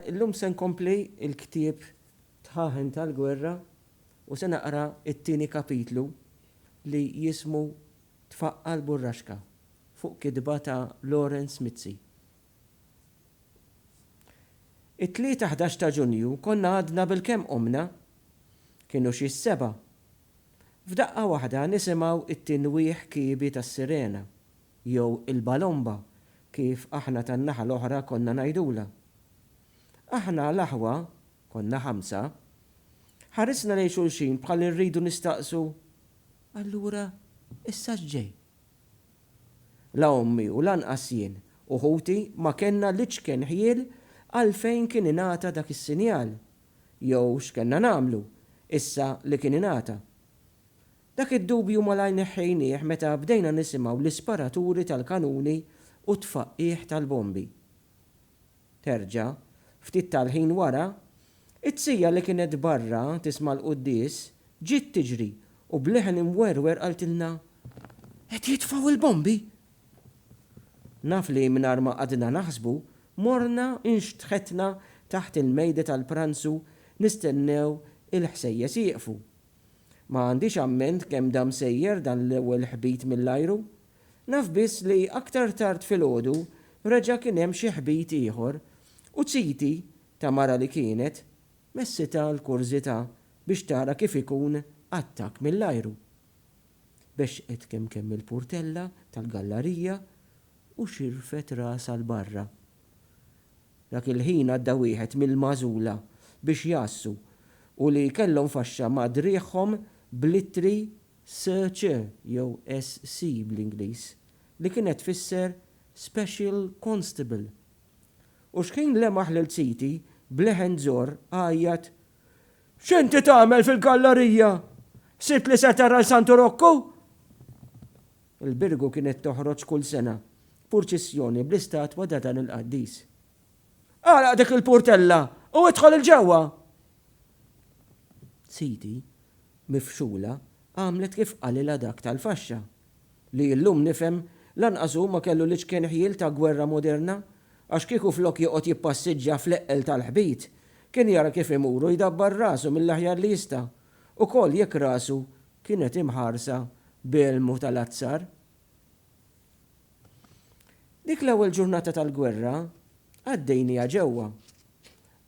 Illum se nkompli l-ktieb Dħaħen tal-Gwerra u se naqra t-tieni kapitlu li jismu Tfaqqa' l-Burraxka fuq kitba ta' Lawrence Mizzi. It-Tlieta ħdax ta' Ġunju konna għadna bilkemm qumna. Kienu xi s-sebgħa. F'daqqa waħda nisimgħu t-tinwieħ kiebi tas-sirena. jew il-balomba kif aħna tan-naħa l-oħra konna ngħidulha. Aħna l-aħwa, konna ħamsa, ħarisna lejn xulxin bħal li rridu nistaqsu, Allura issa x'ġej? La ommi u lanqas jien u ħuti ma kellna l-iċken ħjiel għalfejn kien ingħata dak is-sinjal jew x'kellna nagħmlu issa li kien ingħata. Dak id-dubju malajr neħħejnieh meta bdejna nisimgħu l-isparaturi tal-kanuni u t-tfaqqigħ tal-bombi. Terġa', ftit tal-ħin wara, it-tsija li kienet barra tisma' l-quddies, ġiet tiġri u b'leħen imwerwer qaltilna, Qed jitfgħu l-bombi! Naf li mingħajr ma qgħadna naħsbu, morna nxtħetna taħt il-mejda tal-pranzu nistennew il-ħsejjes jieqfu Ma għandix amment kemm dam sejjer dan l-ewwel ħbit mill-ajru. Naf biss li aktar tard filgħodu reġa' kien hemm xi ħbit ieħor u ziti, ta' mara li kienet, messitha l-kurżità biex tara kif ikun attakk mill-ajru. Bexxqet kemm kemm il-purtella tal-gallarija u xirfet rasha 'l barra. Dak il-ħin għadda wieħed mill-magħżula biex jgħassu u li kellhom faxxa ma' driegħhom bl-ittri SC jew SC bl-Ingliż, li kienet tfisser Special Constable. U xħin lemaħ lil Ziti b'leħen zorr għajjat X'inti tagħmel fil-gallarija? Sibt li se tara 'l Santu Rokku? Il-Birgu kienet toħroġ kull sena purċissjoni bl-istatwa ta' dan il-qaddis. Agħlaq dik il-purtella u idħol 'il ġewwa! Siti, mifxula, għamlet kif qalilha dak tal-faxxa. li illum nifhem, lanqas hu ma kellu l-iċken ħjiel ta' gwerra moderna, għax kieku flok joqgħod jippassiġġja fl-eqqel tal-ħbit, kien jara kif imur u jdabbar rasu mill-aħjar li jista', ukoll jekk rasu kienet imħarsa b'elmu tal-azzar. Dik l-ewwel ġurnata tal-gwerra għaddejnieha ġewwa.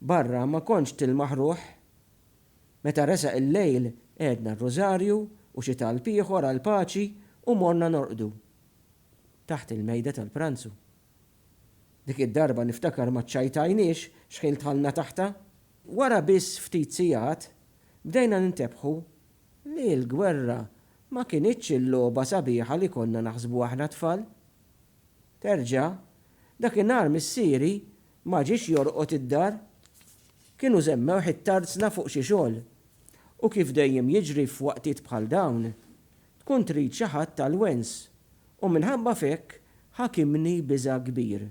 Barra ma kontx tilmaħ ruħ. Meta resaq il-lejl għedna r-Rużarju u xi talb ieħor għall-paċi u morna norqdu taħt il-mejda tal-pranzu. Dik id-darba niftakar ma ċċajtajniex xħin dħalna taħtha. Wara biss ftit sigħat bdejna nintebħu li l-gwerra ma kinitx il-logħba sabiħa li konna naħsbu aħna t-tfal. Terġa', dakinhar missieri Ma ġiex jorqod id-dar. Kienu żemmewh it-tarzna fuq xi xogħol. U kif dejjem jiġri f'waqtiet bħal dawn, tkun trid xi ħadd tal-wens, u minħabba f'hekk ħakimni biża' kbir.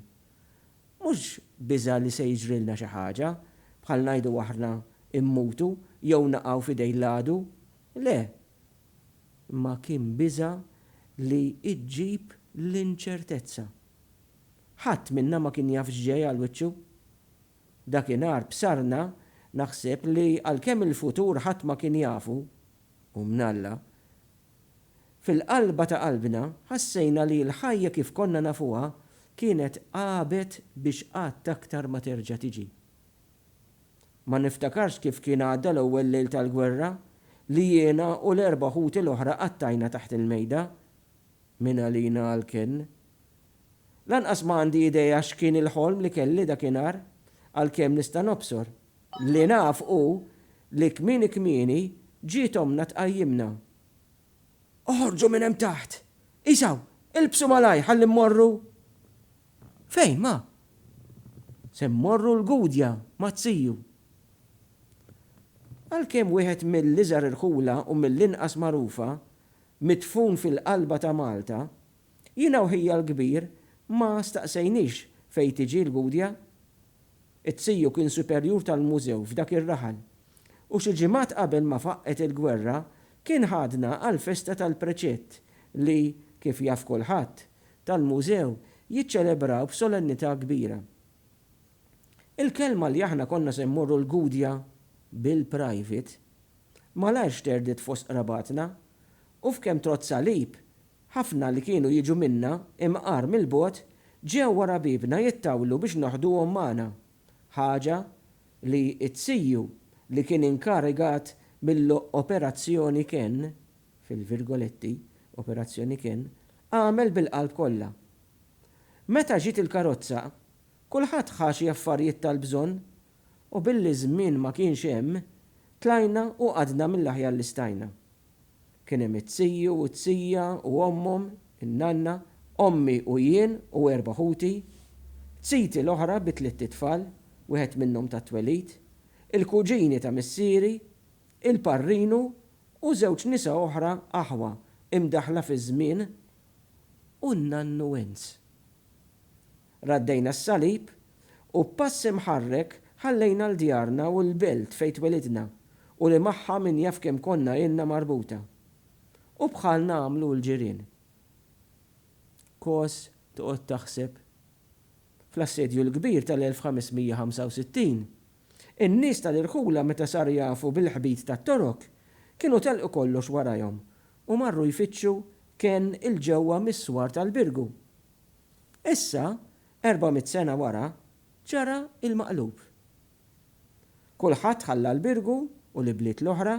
Mhux biża' li se jiġrilna xi ħaġa, bħal ngħidu aħna, immutu jew naqgħu f'idejn l-għadu. Le! Imma kien biża' li ġġib l-inċertezza. Ħadd minna ma kien jaf x'ġej għal wiċċu. Dakinhar b'sarna naħseb li għalkemm il-futur ħadd ma kien jafu, hu mn'Alla, fil-qalba ta' qalbna ħassejna li l-ħajja kif konna nafuha kienet għabet biex qatt aktar ma terġa' tiġi. Ma niftakarx kif kien għadda l-ewwel lejl tal-gwerra li jiena u l-erba' ħuti l-oħra qattajna taħt il-mejda, mingħalina għall-kenn, Lanqas ma għandi idea x'kien il-ħolm li kelli dakinhar, għalkemm nista' nobsor. Li naf hu li kmieni kmieni ġiet ommna tqajjimna. Oħorġu minn hemm taħt! Isaw, ilbsu malajr ħalli mmorru! Fejn, ma? Se mmorru l-Gudja ma' Tziju. Għalkemm wieħed mill-iżgħar irħula u mill-inqas magħrufa, midfun fil-qalba ta' Malta, Jiena u ħija l-kbir ma staqsejniex fejn tiġi l-Gudja. It-Tsiju kien superjur tal-mużew f'dak ir-raħal u xi ġimgħat qabel ma faqqgħet il-gwerra kien ħadna għall-festa tal-preċett li, kif jaf kulħadd, tal-mużew jiċċelebraw b'solennità kbira. Il-kelma li aħna konna se mmorru l-Gudja bil-private, malajr xterdet fost qrabatna u f'kemm trott salib Ħafna li kienu jiġu minna, imqar mill-bogħod, ġew wara biebna jittawlu biex noħduhom magħna, ħaġa li t-CU li kien inkarigat mill-Operazzjoni Ken, fil-virgoletti, Operazzjoni Ken, għamel bil-qalb kollha. Meta ġiet il-karozza, kulħadd ħa xi affarijiet tal-bżonn U billi żmien ma kienx hemm, tlajna u qgħadna mill-aħjar li stajna. Kien hemm it-tiju u t-tija u ommhom, in-nanna, ommi u jien u erba' ħuti, ziti l-oħra bi tlitt itfal, wieħed minnhom tat-twelid, il-kuġini ta' missieri, il-parrinu u żewġ nisa oħra aħwa imdaħħla fiż-żmien u n-nannu Enz. Raddejna s-salib, u b'pass imħarrek ħallejna l-djarna u l-belt fejn twelidna u li magħha min jaf kemm konna ilna marbuta. U bħalna għamlu l-ġirien. Kos toqgħod taħseb. Fl-Assedju l-Kbir tal-1565, in-nies tal-irħula meta saru jafu bil-ħbit tat-Torok, kienu telqu kollox warajhom u marru jfittxu kenn 'il ġewwa mis-swar tal-Birgu. Issa, erba' mitt sena wara, ġara l-maqlub. Kulħadd ħalla l-Birgu u l-ibliet l-oħra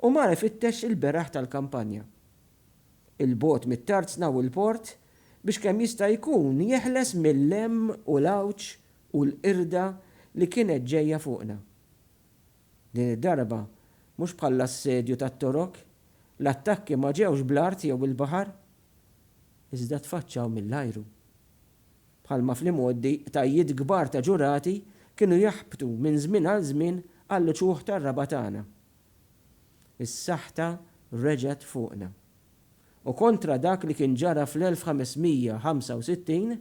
u mar ifittex il-beraħ tal-kampanja. 'il bogħod mit-tarzna u l-port biex kemm jista' jkun jeħles mil-lemm u l-għawġ u l-qirda li kienet ġejja fuqna. Din id-darba, mhux bħall-assedju tat-Torok, l-attakki ma ġewx bl-art jew bil-baħar. iżda tfaċċaw mill-ajru. Bħalma fl-imgħoddi qtajjiet kbar ta' ġurati kienu jaħbtu minn żmien għal żmien għall-uċuħ tar-raba' tagħna, is-saħta reġgħet fuqna. U kontra dak li kien ġara fl-1565,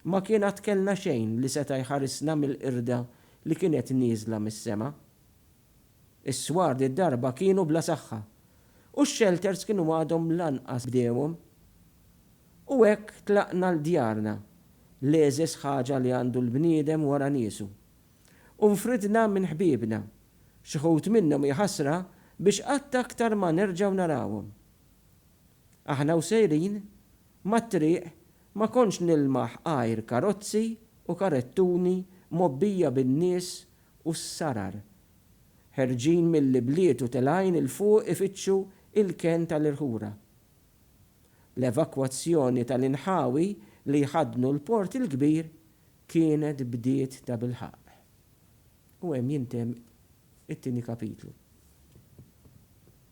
ma kien għad kellna xejn li seta' jħarisna mill-qirda li kienet nieżla mis-sema. Is-swar di d-darba kienu bla saħħa u x-xelters kienu għadhom lanqas bdewhom. U hekk tlaqna 'l djarna, l-egħżeż ħaġa li għandu l-bniedem wara niesu. U nfridna minn ħbiebna, xi wħud minnhom hi ħasra biex qatt aktar ma nerġgħu narawhom. Aħna u sejrin, mat-triq ma kontx nilmaħ għajr karozzi u karettuni mgħobbija bin-nies u s-sarar, ħerġin mill-ibliet u telgħin 'il fuq ifittxu l-kenn tal-irħura. L-evakwazzjoni tal-inħawi li jħaddnu l-Port il-Kbir kienet bdiet tabilħaqq. U hemm jintemm it-tieni kapitlu.